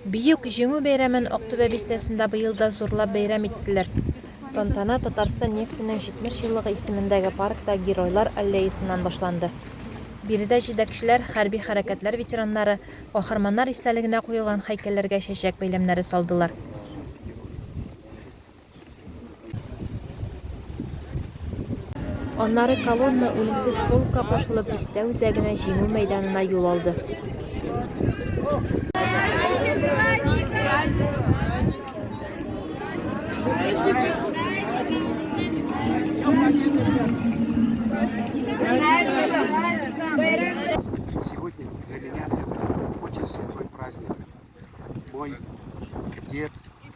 Бөек Җиңү бәйрәмен Актүбә бистәсендә быел да зурлап бәйрәм иттеләр. Тантана Татарстан нефтенең 70 еллыгы исемендәге паркта Геройлар аллеясыннан башланды. Биредә җитәкчеләр, хәрби хәрәкәтләр ветераннары, каһарманнар истәлегенә куелган һәйкәлләргә чәчәк бәйләмнәре салдылар. Аннары колонна үлемсез полкка кушылып бистә үзәгенә җиңү мәйданына юл алды. Сегодня для меня это очень святой праздник. Мой дед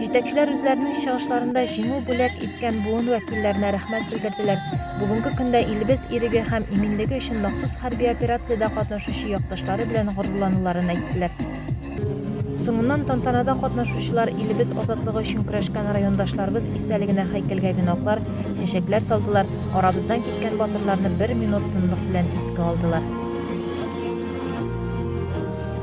Җитәкчеләр үзләренең чыгышларында җиңү бүләк иткән буын вәкилләренә рәхмәт белдерделәр. Бүгенге көндә илебез иреге һәм иминлеге өчен махсус хәрби операциядә катнашучы якташлары белән горурлануларын әйттеләр. Соңыннан тантанада катнашучылар илебез азатлыгы өчен көрәшкән райондашларыбыз истәлегенә һәйкәлгә веноклар, чәчәкләр салдылар, арабыздан киткән батырларны бер минут тынлык белән искә алдылар.